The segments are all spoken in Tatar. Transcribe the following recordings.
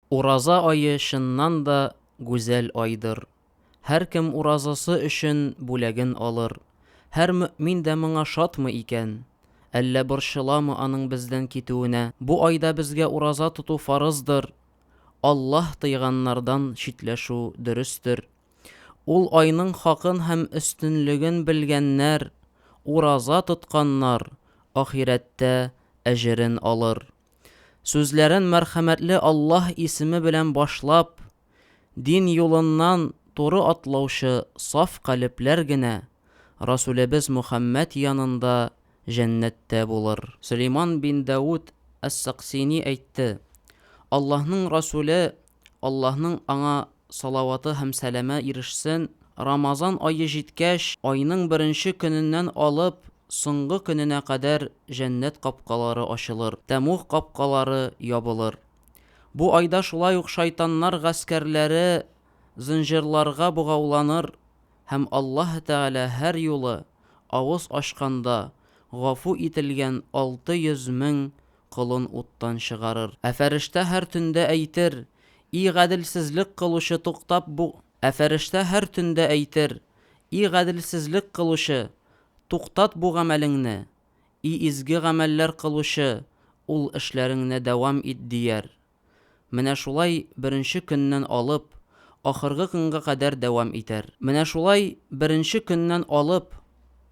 Ураза ае чыннан да гүзәл айдыр. Һәркем уразасы өчен бүләген алыр. Һәр мөэмин дә моңа шатмы икән? Әллә борчыламы аның бездән китүенә? Бу айда безгә ураза тоту фарыздыр, Аллаһ тыйганнардан читләшү дөрестер. Ул айның хакын һәм өстенлеген белгәннәр, ураза тотканнар ахирәттә әҗерен алыр. Сүзләрен мәрхәмәтле Аллаһ исеме белән башлап, дин юлыннан туры атлаучы саф калебләр генә Расүлебез Мөхәммәд янында җәннәттә булыр. Сөләйман бин Дәүд әс-Саксини әйтте, Аллаһның Расүле Аллаһның аңа салаваты һәм сәламе ирешсен, Рамазан ае җиткәч, айның беренче көненнән алып, соңгы көненә кадәр җәннәт капкалары ачылыр, тәмуг капкалары ябылыр. Бу айда шулай ук шайтаннар гаскәрләре зынҗырларга богауланыр һәм Аллаһы Тәгалә һәр юлы авыз ачканда гафу ителгән алты йөз мең колын уттан чыгарыр. Ә фәрештә һәр төндә әйтер, И гаделсезлек кылучы, туктап бу Ә фәрештә һәр төндә әйтер, И гаделсезлек кылучы, туктат бу гамәлеңне, И изге гамәлләр кылучы, ул эшләреңне дәвам ит, дияр. Менә шулай беренче көннән алып, ахыргы көнгә кадәр дәвам итәр. Менә шулай беренче көннән алып,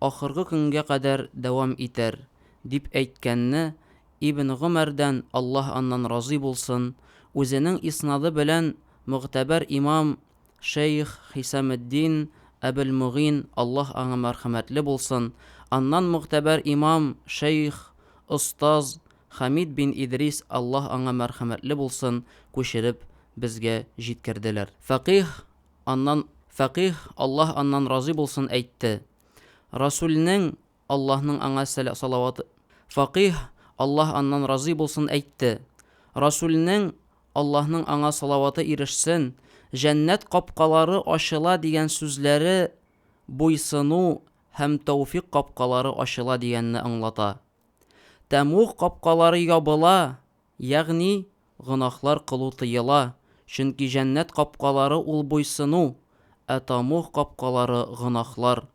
ахыргы көнгә кадәр дәвам итәр, дип әйткәнне Ибн Гомәрдән, Аллаһ аннан разый булсын, үзенең иснады белән мөгътәбәр имам шәех Хисаметдин Әбелмөгин, Аллаһ аңа мәрхәмәтле булсын, аннан могтәбәр имам, шәех, остаз Хәмид бин Идрис, Аллаһ аңа мәрхәмәтле булсын, күчереп безгә җиткерделәр. Фәкыйһ, аннан, фәкыйһ, Аллаһ аннан разый булсын, әйтте, Расүлнең Аллаһның аңа салаваты, факыйһ, Аллаһ аннан разый булсын, әйтте, Расүлнең, Аллаһның аңа салаваты ирешсен, җәннәт капкалары ачыла дигән сүзләре буйсыну һәм тәүфикъ капкалары ачыла дигәнне аңлата. Тәмугъ капкалары ябыла, ягъни гөнаһлар кылу тыела, чөнки җәннәт капкалары ул буйсыну, ә тәмугъ капкалары гөнаһлар.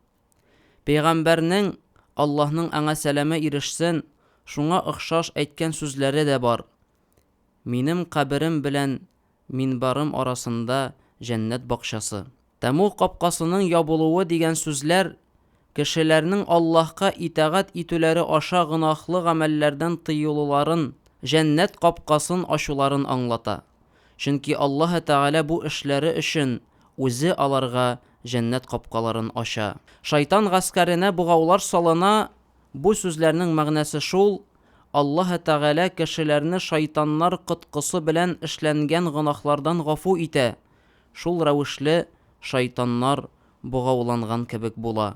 Пәйгамбәрнең, Аллаһның аңа сәламе ирешсен, шуңа охшаш әйткән сүзләре дә бар, Минем каберем белән минбарым арасында җәннәт бакчасы. Тәмуг капкасының ябылуы дигән сүзләр кешеләрнең Аллаһка итагать итүләре аша гөнаһлы гамәлләрдән тыелуларын, җәннәт капкасын ачуларын аңлата. Чөнки Аллаһы Тәгалә бу эшләре өчен Үзе аларга җәннәт капкаларын ача. Шайтан гаскәренә богаулар салына Бу сүзләрнең мәгънәсе шул, Аллаһы Тәгалә кешеләрне шайтаннар коткысы белән эшләнгән гөнаһлардан гафу итә, шул рәвешле шайтаннар богауланган кебек була.